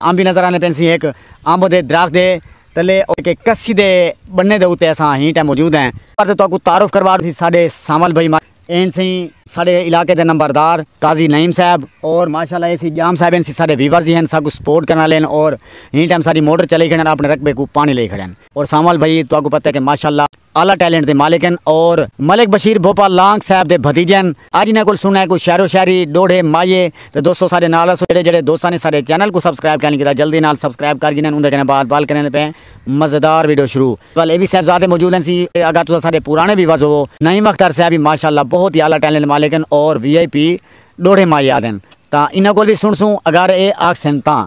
امب وی نظر آندے پئن سیں ہک امب دے درخت دے تلے اتے کسی دے بننے دے اتے اساں ہین ٹائم موجود ہیں۔ نمبر تے تہاکوں تعارف کروا ڈیسی ساڈے سانول بھائی ماں۔ ہین سیں۔ ساڈے علاقے دے نمبردار قاضی نعیم صاحب۔ اور ماشاءاللہ ایسی جام صاحب ہین سیں ساڈے ویورز ہی ہین ساکوں سپورٹ کرن والے ہین اور ہین ٹائم ساڈی موٹر چلئی کھڑن اپنے رقبے کوں پانی لئی کھڑن۔ اور سانول بھائی تہاکوں پتہ ہے کہ ماشاءاللہ۔ اعلی ٹیلنٹ دے مالک ہن اور ملک بشیر بھوپا لانگ صاحب دے بھتیجے ہن اج انہاں کول سننا ہے کوئی شعر و شاعری ڈوہڑے مایے تے دوستو ساڈے نال ہسو جیڑھے جیڑھے دوستاں نے ساڈے چینل کوں سبسکرائب کائنی کیتا جلدی نال سبسکرائب کر گھنن اوندے کنے بعد ول کریندے پئے مزیدار ویڈیو شروع ول اے وی صاحبزادے موجود ہن سی اگر تساں ساڈے پرانے ویورز ہوو نعیم اختر صاحب وی ماشاءاللہ بہت ہی اعلی ٹیلنٹ مالک ہن اور وی آئی پی ڈوہڑے مایے آدن تاں انہاں کول وی سنڑسوں اگر اے آکھسن تاں۔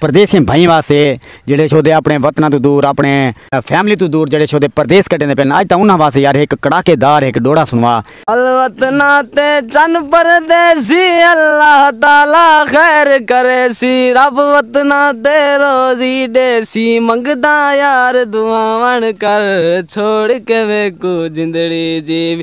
پردیسی بھائیں واسطے جیڑھے شودے اپݨے وطناں توں دور اپݨے فیملی توں دور جیڑھے شودے پردیس کڈھیندے پن اڄ تاں انہاں واسطے یار ہک کڑاکے دار ہک ڈوڑا سنوا۔ الوطناں تے چن پردیسی اللہ تعالی خیر کریسی رب وطناں تے روزی ڈیسی منگداں یار دعاواں کر چھوڑ کے میکوں جندڑی جیوی۔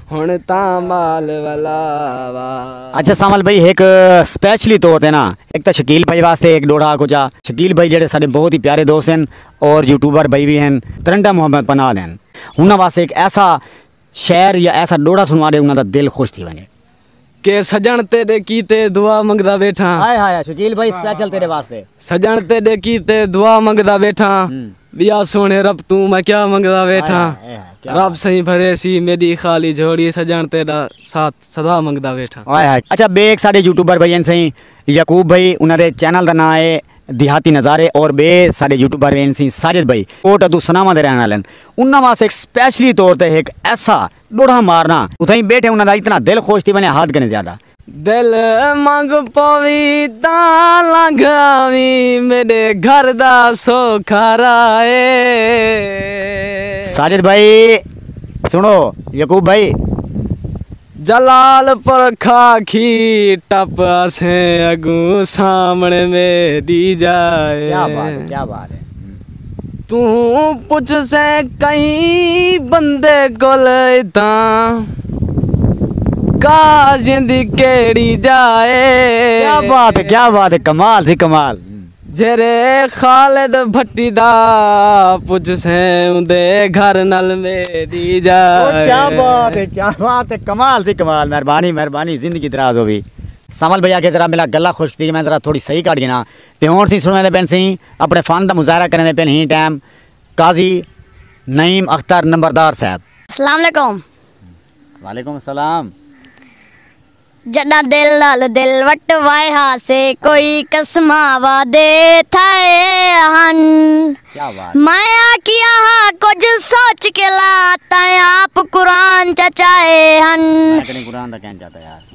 ہن تاں مال ولا وا۔ اچھا سانول بھائی ہک سپیشلی طور تے نا ہک تاں شکیل بھائی واسطے ہک ڈوڑھا آکھو جا۔ شکیل بھائی جیڑھے ساڈے بہت ہی پیارے دوست ہن اور یوٹیوبر بھائی وی ہن ترنڈا محمد پناہ دے ہن انہاں واسطے ہک ایسا شعر یا ایسا ڈوڑھا سنوا ڈے انہاں دا دل خوش تھی ونجے کہ سجن تیڈے کیتے دعا منگدا ویٹھاں۔ ہائے ہائے شکیل بھائی سپیشل تیڈے واسطے۔ سجن تیڈے کیتے دعا منگدا ویٹھاں۔ ویا سوہنے رب توں میں کیا منگدا ویٹھاں۔ رب سئیں بھرے سی میڈی خالی جھولی سجن تیڈا ساتھ سدا منگدا ویٹھاں۔ ہائے ہائے اچھا بے ہک ساڈے یوٹیوبر بھائی ہن سئیں یعقوب بھائی انہاں دے چینل دا ناں ہے دیہاتی نظارے اور بے ساڈے یوٹیوبر ہن سئیں ساجد بھائی کوٹ ادو سناواں دے رہن والے ہن انہاں واسطے ہک سپیشلی طور تے ہک ایسا ڈوڑھا مارنا۔ اتھائیں بیٹھے انہاں دا اتنا دل خوش تھی ونجے حد کنیں زیادہ۔ دل منگ پوی تاں لنگھ آویں میڈے گھر دا سوکھا راہ اے۔ ساجد بھائی سنڑو یعقوب بھائی۔ جلال پور کھا کھی ٹپ اسیں اگوں سامنے میڈی جاہ اے۔ کیا بات ہے کیا بات ہے۔ توں پچھسیں کئی بندے کول اتھاں کاش دی کیڑی جا اے۔ کیا بات ہے کیا بات ہے کمال جی کمال۔ جھیرے خالد بھٹی دا پچھسیں اوندے گھر نال میڈی جا اے۔ کیا بات ہے کیا بات ہے کمال جی کمال مہربانی مہربانی زندگی دراز ہووی۔ سمل بھیا کے ذرا ملا گلا خوش تھی میں ذرا تھوڑی صحیح کاٹ گینا۔ تے ہونڑ سی سنڑیندے پن سی اپنڑے فن دا مظاہرہ کریندے پن ہی ٹائم قاضی نعیم اختر نمبردار صاحب۔ اسلام علیکم۔ وعلیکم السلام۔ جڈاں دل نال دل وٹوائے ہا سے کوئی قسماں وعدے تھائے ہن میں آکھیا ہا کجھ سوچ کے لا تیں آپ قرآن چا چائے ہن۔ میں کڈیں قرآن دا کہن چاتا یار۔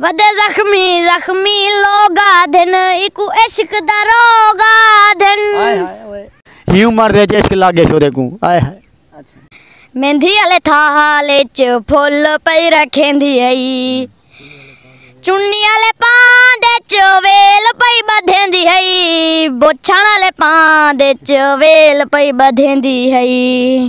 ودے زخمی زخمی لوگ آدھن ایکوں عشق دا روگ آدھن۔ ہی عمر دے اچ عشق لگ گئے شورے کوں آئے ہائے۔ میندھی آلے تھال اچ پھل پئی رکھیندی ہئی چنی آلے پاند اچ ویل پئی بدھیندی ہئی بوچھن آلے پاند اچ ویل پئی بدھیندی ہئی۔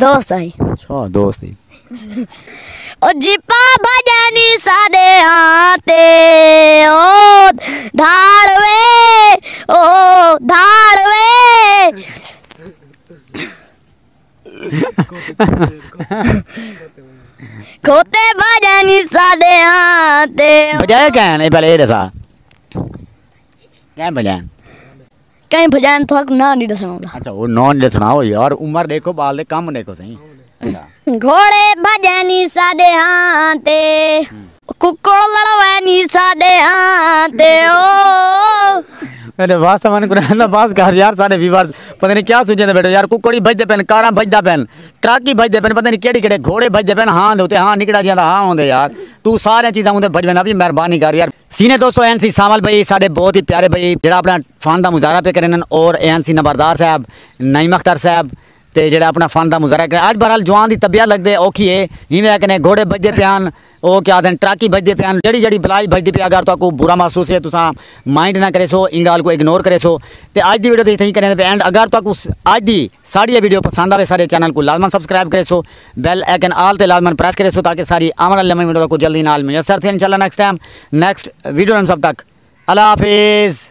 دوست ہئی۔ اچھا دوست ہئی۔ او جیپا بھجنی ساڈے ہاں تے او دھاڑ وے او دھاڑ وے کھوتے بھجنی ساڈے ہاں تے۔ بھجایا کین اے پہلے اے دسا کین بھجایا۔ کہیں بھجائن تھاکوں ناں نی ڈسنڑاں دا۔ اچھا او ناں نی ڈسنڑاں او یار عمر ڈیکھو بال دے کم ڈیکھو سئیں۔ گھوڑے بھجے نی ساڈے ہاں تے۔ ککڑ لڑوے نی ساڈے ہاں تے او۔ میڈے واسطے ون قرآن دا بس کر یار ساڈے ویورز پتہ نی کیا سوچیندے بیٹھے یار ککڑ ہی بھجدے پن کاراں بھجدا پن ٹرک ہی بھجدے پن پتہ نی کیڈے کیڈے گھوڑے بھجدے پن ہاں دے اتے ہاں نکڑا جیاں دا ہاں ہوندے یار تو سارے چیزاں اوندے بھجویندا پی مہربانی کر یار۔ سینئر دوستو این سی سانول بھئی ساڈے بہت ہی پیارے بھئی جیڑا اپنا فن دا مظاہرہ پے کرن اور این سی نمبردار صاحب نعیم اختر صاحب تے جیڑا اپنا فن دا مظاہرہ کرن اج بہرحال جوان دی طبیعت لگدے اوکھی اے ہیویں اکنے گھوڑے بھجدے پے ہن او کیا آدھن ٹرک ہی بھجدے پے ہن جیڑی جیڑی بلا ہی بھجدی پے اگر تہاکوں برا محسوس ہے تساں مائنڈ نہ کریسو ایں گال کوں اگنور کریسو تے اج دی ویڈیو تھئی تھئی کریندے پے اینڈ اگر تہاکوں اج دی ساڈی اے ویڈیو پسند آوے ساڈے چینل کوں لازما سبسکرائب کریسو۔ بیل ایکن آل تے لازمن پریس کریسو تاکہ ساری آون آلی نویں ویڈیو تکوں جلدی نال میسر تھئے انشاءاللہ نیکسٹ ٹائم نیکسٹ ویڈیو نال سب تک اللہ حافظ.